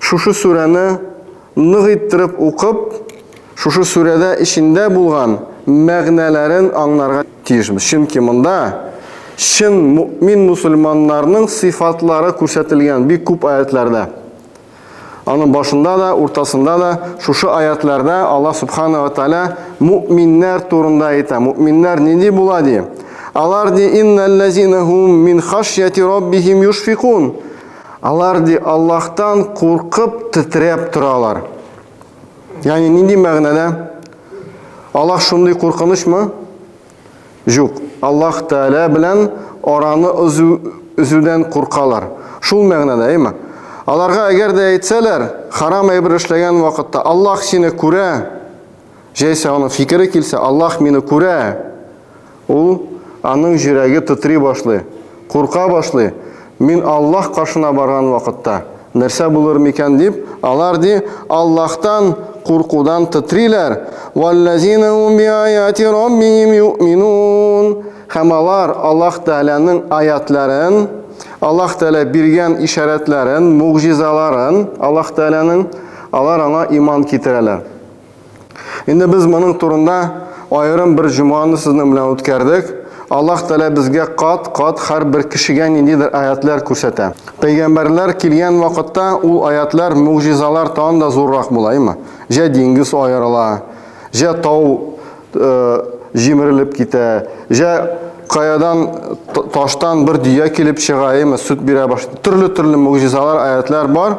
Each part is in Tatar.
шушы сүрәне нык иттереп укып, шушы сүрәдә эчендә булган мәгънәләрен аңнарга тиешбез. Чөнки монда чын мөэмин мөселманнарның сыйфатлары күрсәтелгән бик күп аятьләрдә. Аның башында да, уртасында да шушы аятьләрдә Аллаһ Субхана ва Тааля мөэминнәр турында әйтә. Мөэминнәр нинди була ди? Алар ди инналлазинахум мин хашьяти раббихим юшфикун. Алар, ди, Аллаһтан куркып тетрәп торалар. Ягъни нинди мәгънәдә? Аллаһ шундый куркынычмы? Юк. Аллаһ Тәгалә белән араны өзү үзүдән куркалар. Шул мәгънәдә, әйме? Аларга әгәр дә әйтсәләр, харам әйбер эшләгән вакытта, Аллаһ сине күрә, Җәйсә аның фикере килсә, Аллаһ мине күрә! Ул, аның җөрәге тытри башлый, курка башлый, Мин Аллаһ каршына барган вакытта, нәрсә булыр микән дип, алар, ди, Аллаһтан куркудан тытриләр, Вәлләзина һум биаяти Раббихим юэминун Һәм алар Аллаһ Тәгаләнең аятьләрен, Аллаһ Тәгалә биргән ишарәтләрен, могҗизаларын, Аллаһ Тәгаләнең, алар аңа иман китерәләр. Инде без моның турында аерым бер җомганы сезнең белән үткәрдек. Аллаһ Тәгалә безгә кат-кат һәрбер кешегә ниндидер аятлар күрсәтә. Пәйгамбәрләр килгән вакытта ул аятлар, мугъҗизалар тагын да зуррак була, әйме? Җә диңгез аерыла, җә тау э, җимерелеп китә, җә каядан таштан бер дөя килеп чыга, әйме, сөт бирә башлый. Төрле-төрле мугъҗизалар, аятлар бар.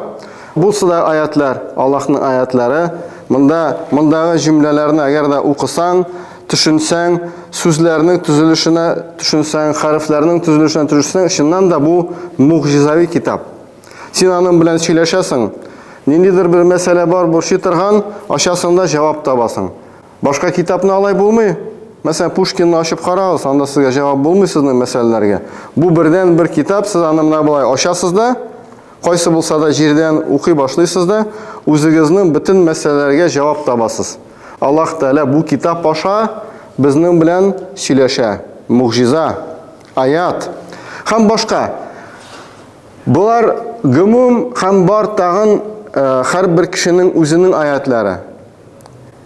Булсы да аятьләр, Аллаһның аятьләре. Монда, мондагы җөмләләрне әгәр дә укысаң, төшенсәң, сүзләрнең төзелешенә төшенсәң, хәрефләрнең төзелешенә төшенсәң, чыннан да бу мугъҗизави китап. Син аның белән сөйләшәсең, ниндидер бер мәсьәлә бар борчый торган, ачасың да җавап табасың. Башка китапны алай булмый. Мәсәлән, Пушкинны ачып карагыз, анда сезгә җавап булмый сезнең мәсьәләләргә. Бу бердән-бер китап, сез аны менә болай ачасыз да, Кайсы булса да җирдән укый башлыйсыз да, үзегезнең бөтен мәсьәләләргә җавап табасыз. Аллаһ Тәгалә бу китап аша безнең белән сөйләшә. Могҗиза, аят һәм башка. Болар гомум һәм бар тагын һәрбер кешенең үзенең аятлары.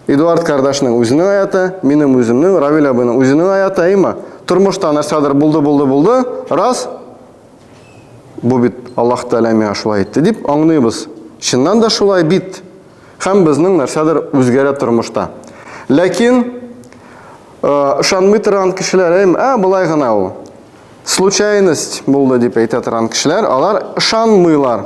Эдуард кардашның үзенең аяты, минем үземнең, Равил абыйның үзенең аяты, әйма. Тормышта нәрсәдер булды, булды, булды, раз, Бу бит Аллаһ Тәгалә миңа шулай әйтте дип аңлыйбыз. Чыннан да шулай бит. Һәм безнең нәрсәдер үзгәрә тормышта. Ләкин ышанмый торган кешеләр, әм, ә болай гына ул. Случайность булды дип әйтә торган кешеләр, алар ышанмыйлар.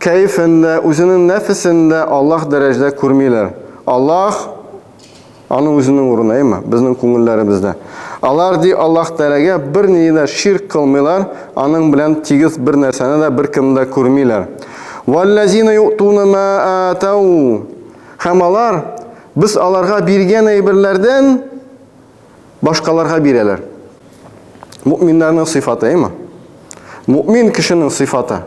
Кәефен дә, үзенең нәфесен дә Аллаһ дәрәҗәдә күрмиләр. Аллаһ Аны үзенең урынына, әмма безнең күңелләребездә. Алар, ди, Аллаһ Тәгаләгә бернинди дә ширк кылмыйлар, аның белән тигез бер нәрсәне дә, беркемне дә күрмиләр. Валлазина юътуна ма атау. Һәм алар, без аларга биргән әйберләрдән, башкаларга бирәләр. Мөминнәрнең сыйфаты, әйме? Мөмин кешенең сыйфаты.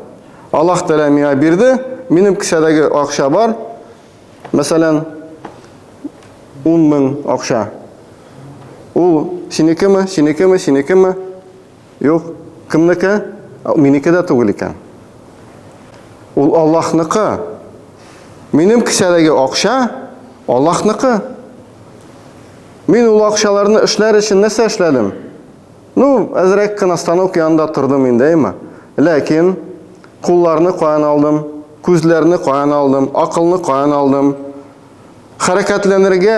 Аллаһ Тәгалә миңа бирде, минем кесәдәге акча бар. Мәсәлән, 10 мең акча. Ул синекеме, синекеме, синекеме? Юк, кемнеке? Минеке дә түгел икән. Ул Аллаһныкы. Минем кесәдәге акча Аллаһныкы. Мин ул акчаларны эшләр өчен нәрсә эшләдем? Ну, әзрәк кенә станок янында тордым индеме? Ләкин кулларны каян алдым? Күзләрне каян алдым? Акылны каян алдым? Хәрәкәтләнергә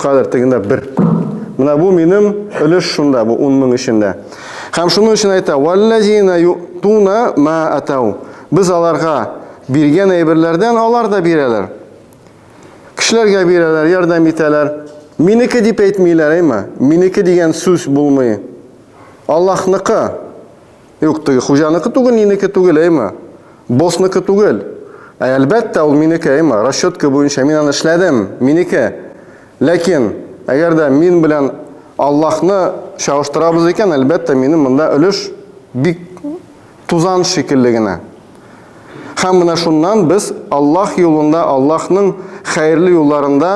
Кадәр тегендә бер. Менә бу минем өлеш шунда, бу 10 мең эчендә. Һәм шуның өчен әйтә, «Валлазина ютуна ма атау». Без аларга биргән әйберләрдән алар да бирәләр. Кешеләргә бирәләр, ярдәм итәләр. Минеке дип әйтмиләр, әйме? Минеке дигән сүз булмый. Аллаһныкы. Юк, теге хуҗаныкы түгел, нинеке түгел, әйме? Босныкы түгел. Ә әлбәттә, ул минеке, әйме? Расчетка буенча мин аны эшләдем, минеке. Ләкин, әгәр дә мин белән Аллаһны чагыштырабыз икән, әлбәттә, минем монда өлеш бик тузан шикелле генә. Һәм менә шуннан без Аллаһ юлында, Аллаһның хәерле юлларында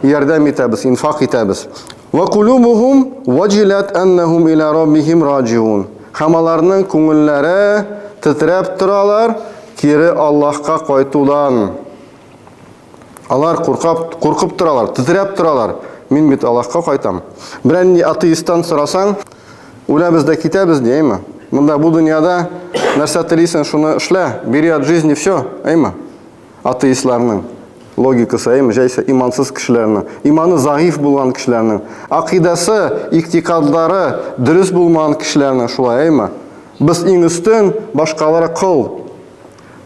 ярдәм итәбез, инфак итәбез. Вә кулубухум ваҗиләт әннәһум илә раббихим раҗиун. Һәм аларның күңелләре тетрәп торалар, кире Аллаһка кайтудан. Алар куркап, куркып торалар, тетрәп торалар. Мин бит Аллаһка кайтам. Берәр нинди атеисттан сорасаң, үләбез дә китәбез ди, әйме? Монда бу дөньяда нәрсә телисең, шуны эшлә, бериат жизни всё, әйме? атеистларның логикасы, әйме, җәйсә имансыз кешеләрнең, иманы заиф булган кешеләрнең, акыйдасы, иктикадлары дөрес булмаган кешеләрнең шулай, әйме? Без иң өстен, башкалары кол.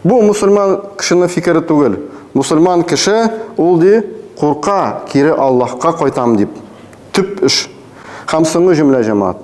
Бу мусульман кешенең фикере түгел. Мусульман кеше ул ди курка, кире Аллаһка кайтам дип. Төп эш. Һәм соңгы җөмлә, җәмәгать.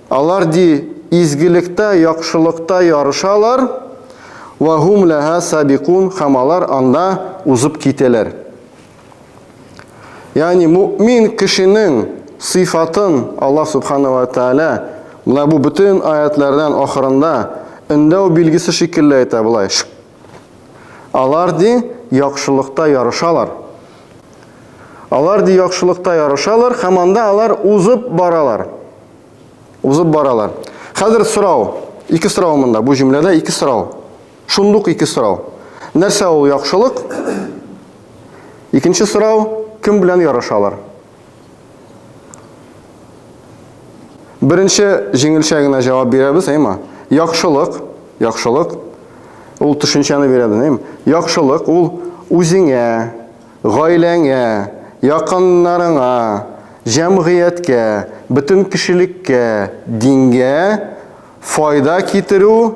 Алар, ди, изгелектә, яхшылыкта ярышалар, Вә һум ләһа сабикун, һәм алар анда узып китәләр. Ягъни мөэмин кешенең сыйфатын Аллаһ Субхана вә Тәгалә менә бу бөтен аятьләрдән ахырында өндәү билгесе шикелле әйтә болай, Шк! Алар, ди, яхшылыкта ярышалар. Алар, ди, яхшылыкта ярышалар, һәм анда алар узып баралар. Узып баралар. Хәзер сорау. Ике сорау монда. Бу җөмләдә ике сорау. Шундук ике сорау. Нәрсә ул яхшылык? Икенче сорау, кем белән ярашалар? Беренче җиңелчә генә җавап бирәбез, әйме? Яхшылык, яхшылык. Ул төшенчәне бирәбез, әйме? Яхшылык ул үзеңә, Гаиләңә, якыннарыңа, җәмгыятькә, бөтен кешелеккә, дингә файда китерү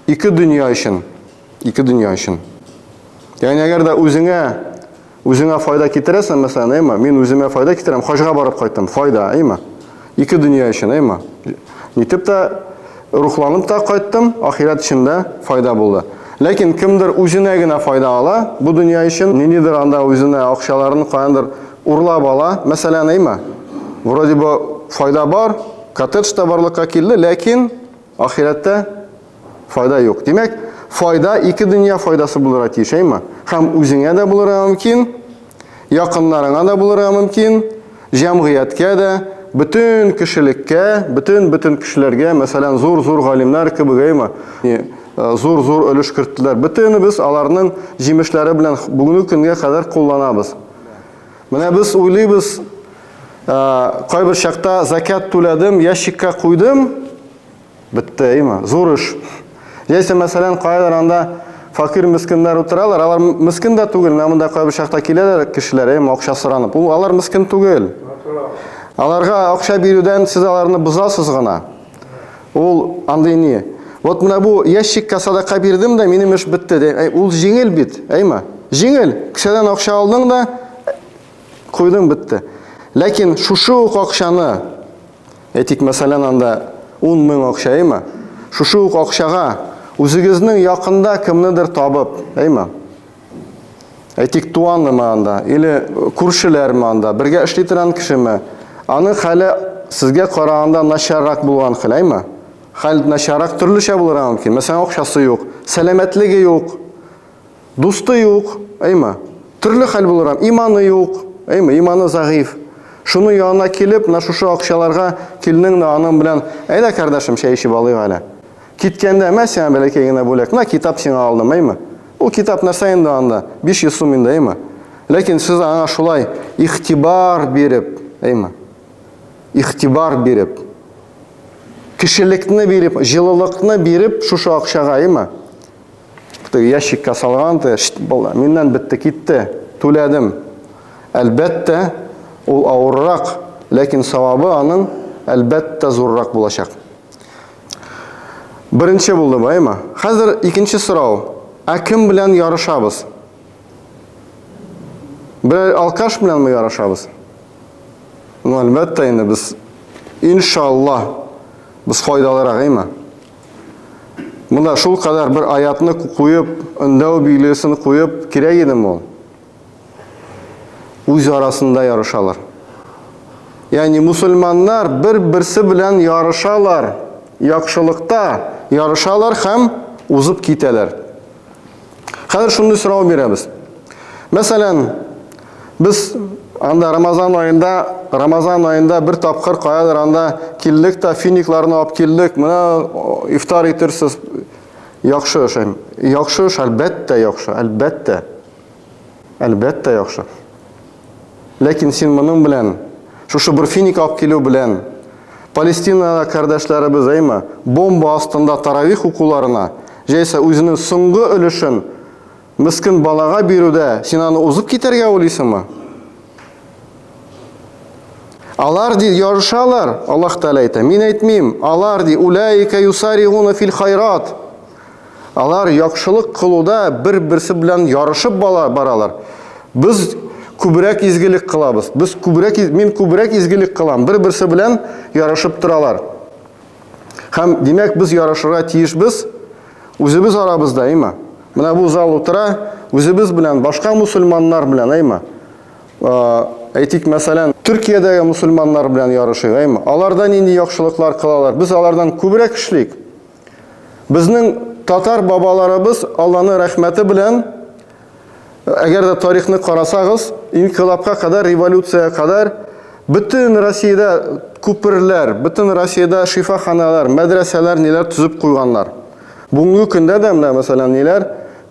ике дөнья өчен. Ике дөнья өчен. Ягъни әгәр дә үзеңә үзеңә файда китерәсең, мәсәлән, әйме, мин үземә файда китерәм, хаҗга барып кайттым, файда, әйме? Ике дөнья өчен, әйма. Нитеп тә рухланып та кайттым, ахирәт өчен дә файда булды. Ләкин кемдер үзенә генә файда ала, бу дөнья өчен ниндидер анда үзенә акчаларын каяндыр урлап ала, мәсәлән, әйма. Вроде бы файда бар, коттедж та барлыкка килде, ләкин ахирәттә Файда юк. Димәк, файда ике дөнья файдасы булырга тиеш, әйме? Һәм үзеңә дә булырга мөмкин, якыннарыңа да булырга мөмкин, җәмгыятькә дә, бөтен кешелеккә, бөтен бөтен кешеләргә, мәсәлән, зур-зур галимнәр кебек, әйме? Зур-зур өлеш керттеләр. Бөтенебез аларның җимешләре белән бүгенге көнгә кадәр кулланабыз. Менә без уйлыйбыз, кайбер чакта закят түләдем, ящикка куйдым, Бетте, әйме? Зур эш. Яисә, мәсәлән, кайдыр анда факир мескеннәр утыралар, алар мескен дә түгел, менә монда кайбер чакта киләләр кешеләр, әйме, акча соранып. Ул алар мескен түгел. Аларга акча бирүдән сез аларны бозасыз гына. Ул андый ни? Вот менә бу ящикка садака бирдем дә, минем эш бетте. Әй, ул җиңел бит, әйме? Җиңел. Кешедән акча алдың да, куйдың бетте. Ләкин шушы ук акчаны Әйтик, мәсәлән, анда ун мең акча, әйме? Шушы ук акчага үзегезнең якында кемнедер табып, әйме? Әйтик, туанымы анда, или күршеләрме анда, бергә эшли торган кешеме? Аның хәле сезгә караганда начаррак булган хәл, әйме? Хәл начаррак төрлечә булырга мөмкин. Мәсәлән, акчасы юк, сәламәтлеге юк. Дусты юк, әйма. Төрле хәл булыр ам. Иманы юк, әйма, иманы загыйф. Шуның янына килеп, на шушы акчаларга килнең дә аның белән, әйдә, кардәшем, чәй ичеп алыйк әле. Киткәндә, мә сиңа бәләкәй генә бүләк, на китап сиңа алдым, әйма. Ул китап нәрсә инде анда? 500 сум инде, әйма. Ләкин сез аңа шулай игътибар биреп, әйма. Игътибар биреп, кешелекне биреп, җылылыкны биреп шушы акчага, әйма. Теге ящикка салган, теге миннән бетте, китте. Түләдем. Әлбәттә, ул авыррак, ләкин савабы аның әлбәттә зуррак булачак. Беренче булды баймы? Хәзер икенче сорау. Ә кем белән ярышабыз? Бер алкаш белән ме ярышабыз? Ну, әлбәттә инде без иншалла без файдалырак, әйме? Монда шул кадәр бер аятны куеп, өндәү билгесен куеп кирәк идеме ул? Үз арасында ярышалар. Ягъни мусульманнар бер-берсе белән ярышалар, яхшылыкта ярышалар һәм узып китәләр. Хәзер шундый сорау бирәбез. Мәсәлән, без анда Рамазан аенда, Рамазан аенда бер тапкыр каядыр анда килдек та финикларны алып килдек. Менә ифтар итерсез. Яхшы эшем. Яхшы эш, әлбәттә, яхшы, әлбәттә. Әлбәттә яхшы. Ләкин син моның белән, шушы бер финик алып килү белән, Палестинадагы кардәшләребез әйме, бомба астында таравих укуларына, җәйсә үзенең соңгы өлешен мескен балага бирүдә син аны узып китәргә уйлыйсыңмы? Алар ди ярышалар, Аллаһ Тәгалә әйтә, мин әйтмим, алар ди улаика юсаригуна фил хайрат. Алар яхшылык кылуда бер-берсе белән ярышып баралар. Без күбрәк изгелек кылабыз. Без күбрәк мин күбрәк изгелек кылам. Бер-берсе белән ярышып торалар. Һәм димәк без ярышырга тиешбез үзебез арабызда, әйме? Менә бу зал утыра, үзебез белән башка мусульманнар белән, әйме? Әйтик, мәсәлән, Төркиядәге мусульманнар белән ярышыйк, әйме? Аларда нинди яхшылыклар кылалар? Без алардан күбрәк эшлик. Безнең татар бабаларыбыз Алланы рәхмәте белән әгәр дә тарихны карасагыз, инкилапка кадәр, революция кадәр бөтен Россиядә күперләр, бөтен Россиядә шифаханалар, мәдрәсәләр ниләр төзеп куйганнар. Бүгенге көндә дә менә мәсәлән ниләр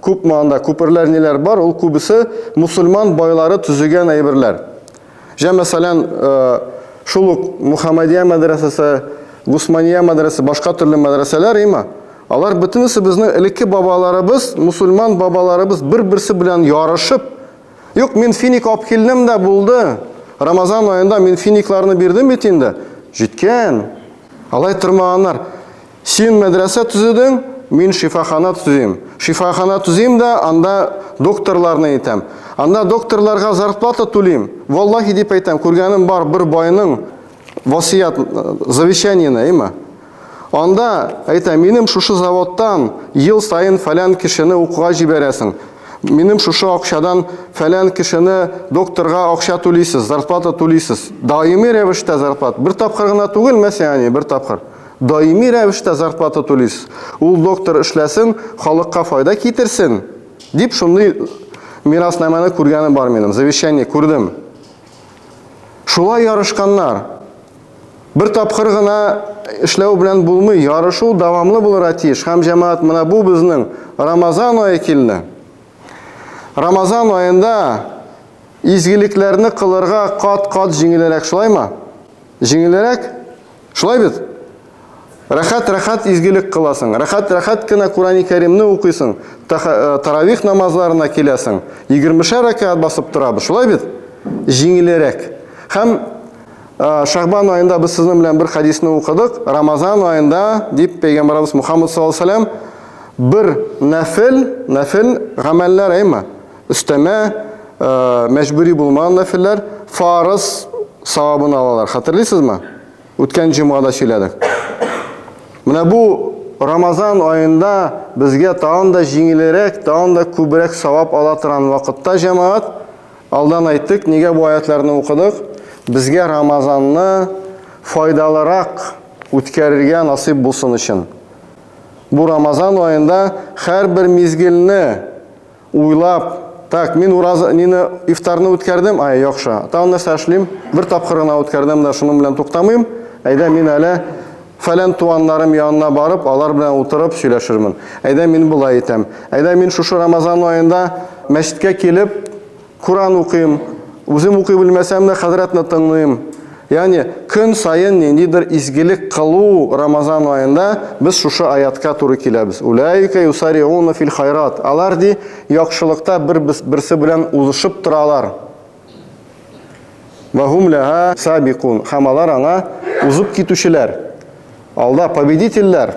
күп манда күперләр ниләр бар, ул күбесе мусульман байлары төзегән әйберләр. Җә, мәсәлән, шул ук Мухаммадия мәдрәсәсе, Гусмания мәдрәсәсе, башка төрле мәдрәсәләр, има, алар бөтенесе безнең элекке бабаларыбыз, мусульман бабаларыбыз бер-берсе белән ярышып, юк, мин финик алып килдем дә булды, Рамазан аенда мин финикларны бирдем бит инде, җиткән. Алай тормаганнар. Син мәдрәсә төзедең, мин шифахана төзим. Шифахана төзим дә, анда докторларны итәм. Анда докторларга зарплата түлим. Валлахи дип әйтәм, күргәнем бар бер байның васыят завещаниене, әйме? Анда әйтә, минем шушы заводтан ел саен фәлән кешене укуга җибәрәсең. Минем шушы акчадан фәлән кешене докторга акча түлисез, зарплата түлисез. Даими рәвештә зарплат. Бер тапкыр гына түгел, мәсәлән, бер тапкыр. Даими рәвештә зарплата түлис, ул доктор эшләсен, халыкка файда китерсен, дип шундый мираснамәне күргәнем бар минем, завещание күрдем. Шулай ярышканнар. Бер тапкыр гына эшләү белән булмый, ярышу дәвамлы булырга тиеш. Һәм җәмәгать менә бу безнең Рамазан ае килде. Рамазан аенда изгелекләрне кылырга кат-кат җиңелрәк, шулаймы? Җиңелрәк? Шулай бит? Рәхәт-рәхәт изгелек кыласың, рәхәт-рәхәт кенә Курани-Кәримне укыйсың, э, таравих намазларына киләсең, егермешәр рәкәгать басып торабыз, шулай бит? Җиңелерәк. Һәм э, Шәгъбан аенда без сезнең белән бер хәдисне укыдык, Рамазан аенда, дип пәйгамбәрбез Мухаммад саллаллаһу алейһи ва сәлләм бер нәфел, нәфел гамәлләр әйме? Өстәмә мәҗбүри булмаган нәфилләр фарыз савабын алалар. Хәтерлисезме? Үткән җомгада сөйләдек. Менә бу Рамазан аенда безгә тагын да җиңелрәк, тагын да күбрәк савап ала торган вакытта җәмәгать, алдан әйттек, нигә бу аятларны укыдык? Безгә Рамазанны файдалырак үткәрергә насыйп булсын өчен. Бу Рамазан аенда һәрбер мизгелне Уйлап, так, мин ураза, нины, ифтарны үткәрдем, ай, яхшы. Тагын нәрсә эшлим? Бер тапкыр гына үткәрдем дә шуның белән туктамыйм. Әйдә мин әле фәлән туганнарым янына барып, алар белән утырып сөйләшермен. Әйдә мин болай итәм. Әйдә мин шушы Рамазан аенда мәчеткә килеп, Коръән укыйм. Үзем укый белмәсәм дә, хәзрәтне тыңлыйм. Ягъни, көн саен ниндидер изгелек кылу Рамазан аенда без шушы аятка туры киләбез. Уләика юсариуна фил хайрат. Алар, ди, яхшылыкта бер берсе белән узышып торалар. Вә һум ләһа сабикун. Һәм алар аңа узып китүчеләр. Алда победительләр.